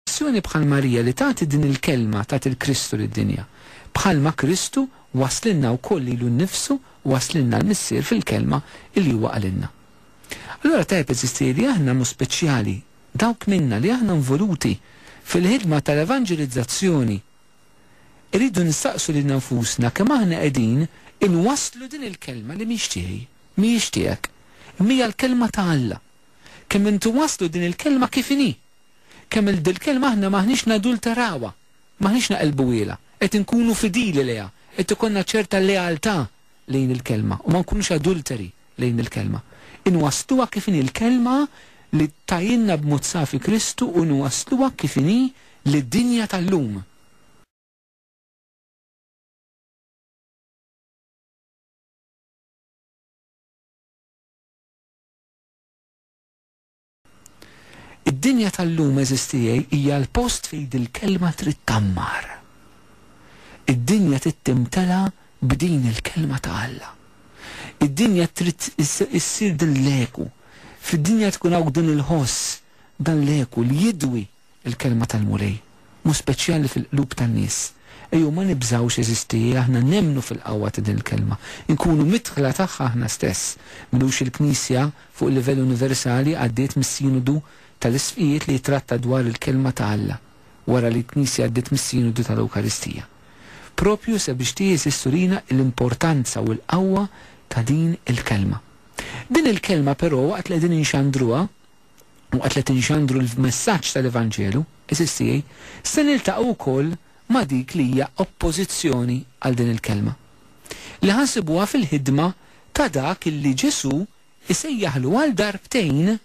Azzjoni bħal Marija li tagħti din il-kelma tat il-Kristu lid-dinja. Bħalma Kristu wasslilna wkoll lilu nnifsu wasslilna l-Missier fil-kelma li huwa qalilna. Allura tajjeb eżisti li aħna b'mod speċjali dawk minna li aħna nvoluti fil-ħidma tal-evanġelizzazzjoni irridu nistaqsu lilna nfusna kemm aħna qegħdin inwasslu din il-kelma li mhix tiegħi, mhijiex tiegħek, imma hija l-kelma ta' Alla. Kemm inwasslu din il-kelma kif inhi. Kemm il dil-kelma aħna m'aħniex nadulterawha, m'aħniex naqelbuhielha, qed inkunu fidili lejha, qed ikollna ċerta lealtà lejn il-kelma u ma nkunux adulteri lejn il-kelma. Inwassluha kif inhi l-kelma li tajilna b'mod safi Kristu u nwassluha kif inhi lid-dinja tal-lum. Id-dinja tal-lum għeżież tiegħi hija l-post fejn dil-kelma trid tgħammar. Id-dinja trid timtela b'din il-kelma ta' Alla. Id-dinja trid issir din l-eku. Fid-dinja tkun hawn din il-ħoss, dan l-eku li jidwi. il-kelma tal-Mulej, b'mod speċjali fil-qlub tan-nies. Ejjew ma nibżgħux, għeżiżti, aħna nemmnu fil-qawwa ta' din il-kelma. Inkunu midħla tagħha aħna stess. M'ilux il-Knisja, fuq livell universali, għaddiet mis-Sinodu tal-Isqfijiet li jittratta dwar il-Kelma ta' Alla, wara li l-Knisja għaddiet mis-Sinodu tal-Ewkaristija. Proprju sabiex tieżis turina l-importanza u l-qawwa ta' din il-kelma. Din il-kelma, però, waqt li qegħdin inxandruha, Waqt li qed inxandru l-messaġġ tal-Evanġelu, is-SDA se niltaqgħu wkoll ma' dik li hija oppożizzjoni għal din il-kelma, li ħa nsibuha fil-ħidma ta' dak li Ġesù jsejjaħlu għal darbtejn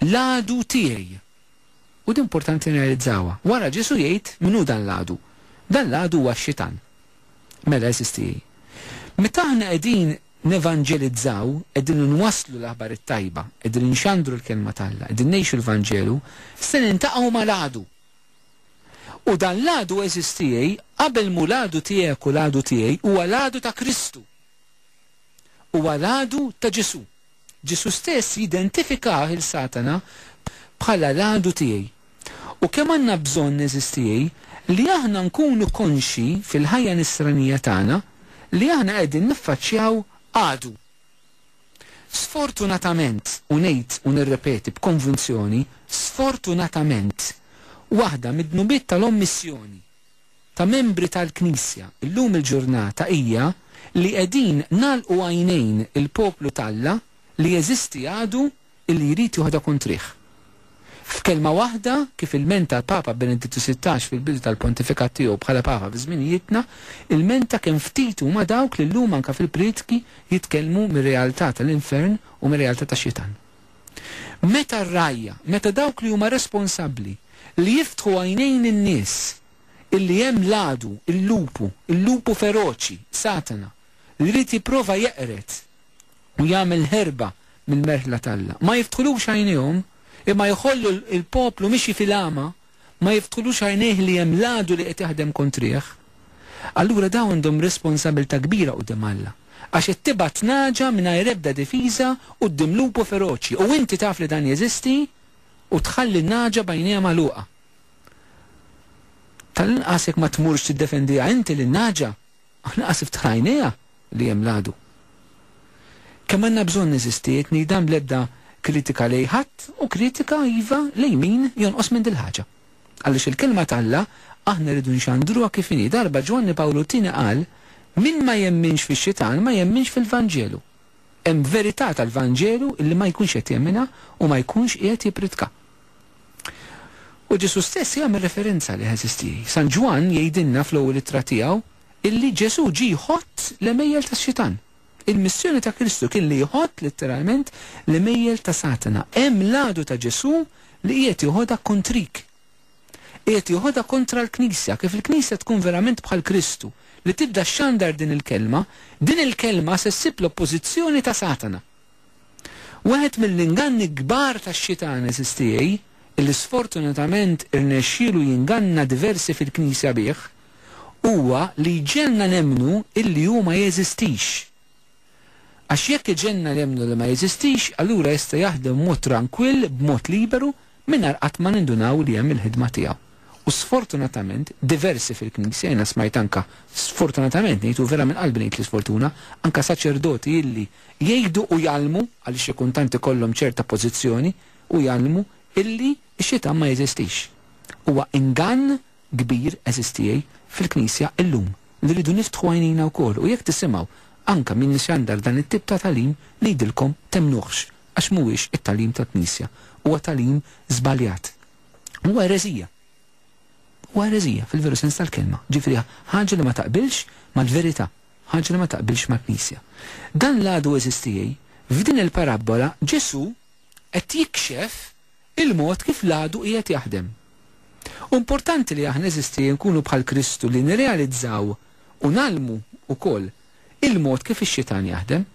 l-għadu tiegħi. U din importanti nirrealizzawha. Wara Ġesù jgħid min hu dan l-għadu. Dan l-għadu huwa x-Xitan. Mela, SDA, meta aħna qegħdin nevanġelizzaw, qegħdin inwasslu l-aħbar it-tajba, qegħdin inxandru l-Kelma t'Alla, qegħdin ngħixu l-Vanġelu, se niltaqgħu mal-għadu. U dan l-għadu, għeżież tiegħi, qabel m'hu l-għadu tiegħek u l-għadu tiegħi, huwa l-għadu ta' Kristu. Huwa l-għadu ta' Ġesù. Ġesù stess jidentifikah 'il Satana bħala l-għadu tiegħi. U kemm għandna bżonn, għeżież tiegħi, li aħna nkunu konxji fil-ħajja Nisranija tagħna li aħna qegħdin niffaċċjaw għadu! Sfortunatament, u ngħid u nirrepeti b'konvinzjoni, sfortunatament, waħda mid-dnubiet tal-ommissjoni, ta' membri tal-Knisja llum il-ġurnata hija li qegħdin nagħlqu għajnejn il-poplu t'Alla li jeżisti għadu li jrid joħda kuntrih. F'kelma waħda, kif ilmenta l-Papa Benedittu Sittax fil-bidu tal-pontifikat tiegħu bħala Papa fi żminijietna, ilmenta kemm ftit huma dawk li llum anke fil-prietki jitkellmu mir-realtà tal-infern u mir-realtà tax-xitan. Meta r-rgħajja, meta dawk li huma responsabbli li jiftħu għajnejn in-nies illi hemm l-għadu, il-lupu, il-lupu feroċi, Satana, li jrid jipprova jeqred u jagħmel ħerba mill-merħla t'Alla, ma jiftħulux għajnejhom, imma jħollu l-poplu mixi fil-għama, ma jiftħulux għajnejh li hemm l-għadu li qed jaħdem kontrih, allura dawn għandhom responsabilità kbira quddiem Alla, għax qed tibgħat nagħġa mingħajr ebda difiża quddiem lupu feroċi u inti taf li dan jeżisti u tħalli n-nagħġa b'għajnejha magħluqa. Tal-inqas jekk ma tmurx tiddefendiha inti lin-nagħġa, Aħna qas iftħar għajnejha li hemm l-għadu. Kemm għandna bżonn neżistiet ngħid dan bl-ebda kritika lejn ħadd u kritika, iva, lejn min jonqos minn dil-ħaġa. Għaliex il-Kelma t'Alla aħna rridu nxandruha kif inhi. Darba Ġwanni Pawlu t-Tieni qal, Min ma jemminx fix-Xitan ma jemminx fil-Vanġelu. Hemm verità tal-Vanġelu illi ma jkunx qed jemminha u ma jkunx qiegħed jippritka. U Ġesù stess jagħmel referenza għalih, għeżież tiegħi. San Ġwann jgħidilna fl-ewwel ittra tiegħu illi Ġesù ġie jħott l-għemejjel tax-Xitan. Il-missjoni ta' Kristu kien li jħott, litteralment, l-għemejjel ta' Satana. Hemm l-għadu ta' Ġesù li qiegħed joħodha kontrik. Qiegħed joħodha kontra l-Knisja, kif il-Knisja tkun verament bħal Kristu, li tibda xxandar din il-Kelma, din il-Kelma se ssib l-oppożizzjoni ta' Satana. Wieħed mill-inganni l-kbar tax-Xitan, għeżież tiegħi, illi sfortunatament irnexxielu jinganna diversi fil-Knisja bih, huwa li jġegħelna nemmnu illi hu ma jeżistix. Għax jekk iġegħelna nemmnu li ma jeżistix, allura jista' jaħdem b'mod trankwill, b'mod liberu, mingħajr qatt ma nindunaw li hemm il-ħidma tiegħu. U sfortunatament, diversi fil-Knisja, jiena smajt anke, sfortunatament ngħid u vera minn qalbi ngħid l-isfortuna, anke saċerdoti illi, jgħidu u jgħallmu, għaliex xi kuntant ikollhom ċerta pożizzjoni u jgħallmu, illi x-xitan ma jeżistix. Huwa ingann kbir, għeżież tiegħi, fil-Knisja llum, li rridu niftħu għajnejna wkoll u jekk tisimgħu anke min ixandar dan it-tip ta' tagħlim, ngħidilkom temmnuhx, għax mhuwiex it-tagħlim tal-Knisja. Huwa tagħlim żbaljat. Huwa ereżija. Huwa ereżija fil-veru sens tal-kelma, ġifieri ħaġa li ma taqbilx mal-verità. Ħaġa li ma taqbilx mal-Knisja. Dan l-għadu eżistiej. F'din il-parabbola Ġesù qed jikxef il-mod kif l-għadu qiegħed jaħdem. U importanti li aħna eżistiej nkunu bħal Kristu li nirrealizzaw u ngħallmu wkoll il-mod kif ix-xitan jaħdem.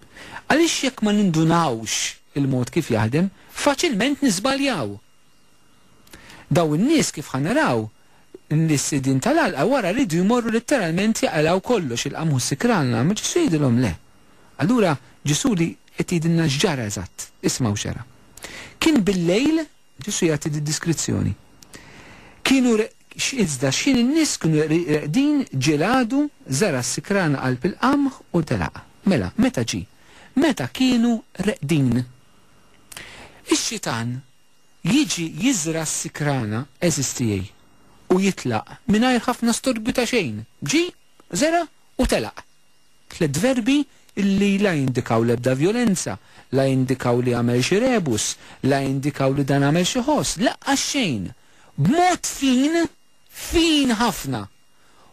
Għaliex jekk ma nindunawx il-mod kif jaħdem, faċilment niżbaljaw. Dawn in-nies, kif ħa naraw, l-sidien tal-għalqa wara riedu jmorru litteralment jaqilgħu kollox, il-qamħu s-sikran, l-għama, Ġesù jgħidilhom le. Allura Ġesù li qed jgħidilna x'ġara eżatt, ismgħu x'ġara. Kien bil-lejl, Ġesù jagħti d-diskrizzjoni. Kienu iżda x'ħin in-nies kienu reqdin ġie l-għadu, żara' s-sikran qalb il-qamħ u telaqha. Mela, meta ġie? Meta kienu reqdin. Ix-xitan Jiġi jiżra' s-sikrana għeżież tiegħi u jitlaq mingħajr ħafna storbju ta' xejn. Ġie, żera' u telaq. Tliet verbi li la jindikaw l-ebda vjolenza, la jindikaw li għamel xi rebus, la jindikaw li dan għamel xi ħoss, laqqas xejn. B'mod fin, fin ħafna.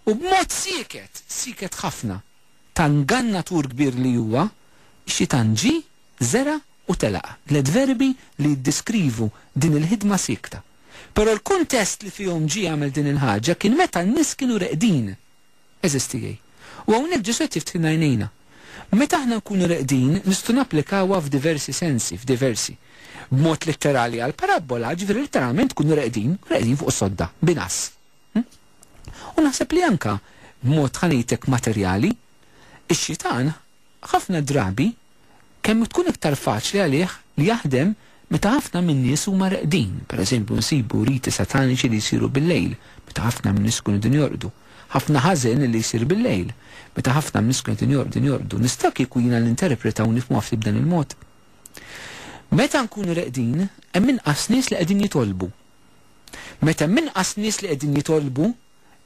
U b'mod sieket, sieket ħafna. Ta' ngannatur kbir li huwa, xi tant ġie, Żera' u telaq, tliet verbi li jiddeskrivu din il-ħidma siekta. Però l-kuntest li fihom ġie għamel din il-ħaġa kien meta n-nies kienu reqdin. Għeżież tiegħi. U hawnhekk Ġesù qed jiftħilna għajnejna. Meta aħna nkunu reqdin, nistgħu napplikawha f'diversi sensi, f'diversi. B'mod litterali għall-parabbola, jiġifieri litteralment tkunu reqdin, reqdin fuq is-sodda, b'inqas. U naħseb li anke b'mod ħa ngħidlek materjali, ix-xitan Ħafna drabi, kemm tkun iktar faċli għalih li jaħdem meta ħafna min-nies huma reqdin, pereżempju nsibu riti sataniċi li jsiru bil-lejl, meta ħafna min-nies ikunu qegħdin jorqdu, ħafna ħażen li jsir bil-lejl, meta ħafna min-nies ikunu qegħdin jorqdu. Nista' kieku jiena ninterpreta u nifhmuha ftit b'dan il-mod? Meta nkunu reqdin, hemm inqas nies li qegħdin jitolbu. Meta hemm inqas nies li qegħdin jitolbu,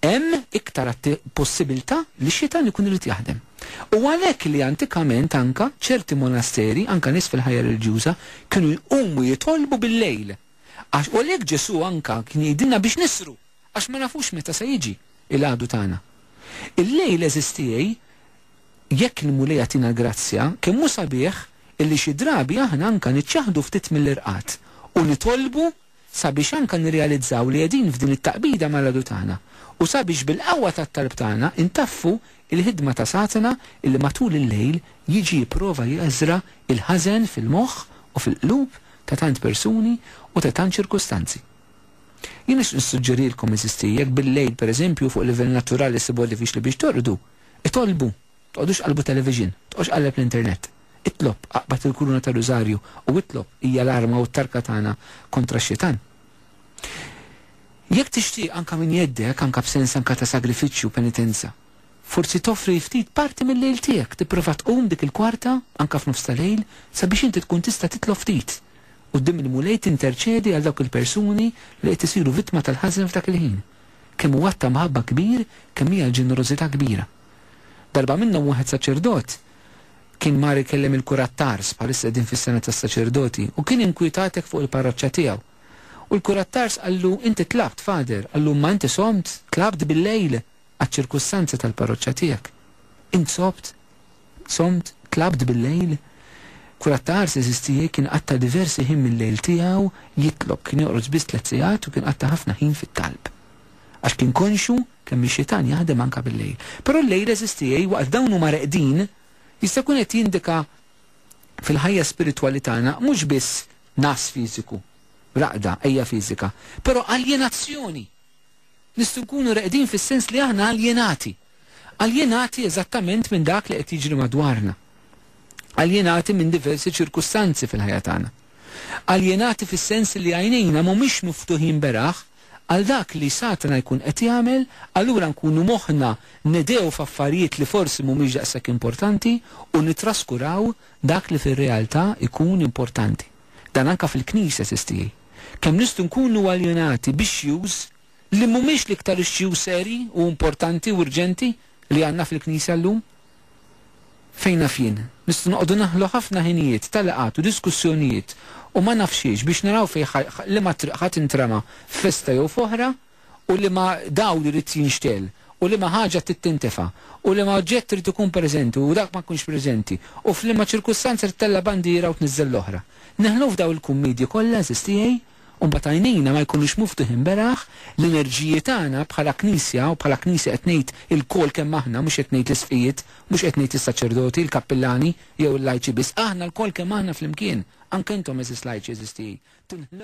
hemm iktar possibilità li x-xitan ikun irid jaħdem. U għalhekk li antikament anka ċerti monasteri, anka nies fil-ħajja reliġjuża, kienu jqumu jitolbu bil-lejl. Għax u għalhekk Ġesù anka kien jgħidilna biex nisru, għax ma nafux meta se jiġi l-għadu tagħna. Il-lejl għeżież tiegħi, jekk il-Mulej jagħtina l-grazzja, kemm hu sabiħ illi xi drabi aħna anka niċċaħħdu ftit mill-irqad u nitolbu sabiex anke nirrealizzaw li qegħdin f'din it-taqbida mal-Għadu tagħna, u sabiex bil-qawwa tat-talb tagħna ntaffu l-ħidma ta' Satana li matul il-lejl jiġi jipprova jeżra' l-ħażen fil-moħħ u fil-qlub ta' tant persuni u ta' tant ċirkustanzi. Jien nixtieq nissuġġerilkom, għeżiżti, jekk bil-lejl, pereżempju, fuq livell naturali ssibha diffiċli biex torqdu, itolbu Toqgħodux tqallbu television, toqgħodx tqalleb l-internet. Itlob, aqbad il-kuruna tar-Rużarju u itlob hija l-arma u t-tarka tagħna kontra x-xitan. Jekk tixtieq anka minn jeddek, anka b'sens anka ta' sagrifiċċju u penitenza. Forsi toffri ftit parti mil-lejl tiegħek, tipprova tqum dik il-kwarta, anka f'nofs ta' lejl, sabiex inti tkun tista' titlob ftit. Quddiem il-Mulej tinterċedi għal dawk il-persuni li qed isiru vittma tal-ħażen f'dak il-ħin. Kemm hu att ta' mħabba kbir, kemm hija l-ġenerożità kbira. Darba minnhom wieħed saċerdot kien mar ikellem il-kurattars, bħalissa qegħdin fis-sena tas-saċerdoti, u kien inkwitat hekk fuq il-parroċċa tiegħu. U l-kurattars qallu, Inti tlabt, Father, qallu, imma inti somt, tlabt bil-lejl għaċ-ċirkustanzi tal-parroċċa tiegħek. Int sobt, somt, tlabt bil-lejl? Kurattars, għeżież tiegħi, kien qatta' diversi ħin mil-lejl tiegħu jitlob, kien joqgħod biss tliet sigħat u kien qatta' ħafna ħin fit-talb. Għax kien konxju Kemm ix-xitan jaħdem anke bil-lejl. Però l-lejl, għeżież tiegħi, waqt dawn huma reqdin, jista' jkun qed jindika fil-ħajja spiritwali tagħna mhux biss ngħas fiżiku, raqda, għeja fiżika, però aljenazzjoni. Nistgħu nkunu reqdin fis-sens li aħna aljenati. Aljenati eżattament minn dak li qed jiġri madwarna. Aljenati minn diversi ċirkustanzi fil-ħajja tagħna. Aljenati fis-sens li għajnejna mhumiex miftuħin beraħ għal dak li Satna jkun qed jagħmel, allura nkunu moħħna nedegħu f'affarijiet li forsi mhumiex daqshekk importanti u nittraskuraw dak li fir-realtà jkun importanti. Dan anke fil-Knisja, Sis tiegħi. Kemm nistgħu nkunu aljenati b'issues li mhumiex l-iktar issues serji u importanti u urġenti li għandna fil-Knisja llum? Fejn naf jien, nistgħu noqogħdu naħlu ħafna ħinijiet ta' laqgħat u diskussjonijiet u ma nafx xiex biex naraw fejn liema triq ħa tintrema f'festa jew f'oħra u liema dawl irid jinxtegħel u liema ħaġa trid tintefa' u liema oġġett irid ikun preżenti u dak ma jkunx preżenti u f'liema ċirkustanza trid tella' bandiera u tniżżel l-oħra. Neħlu f'daw il-kummedji kollha, għażiż tiegħi? u mbagħad għajnejna ma jkunux muftuħin beraħ, l-enerġiji tagħna bħala Knisja, u bħala Knisja qed ngħid ilkoll kemm aħna, mhux qed ngħid l-isqfijiet, mhux qed ngħid is-saċerdoti, il-kappillani, jew il-lajċi biss, aħna lkoll kemm aħna flimkien, anke intom għeżież lajċi, għeżież tiegħi,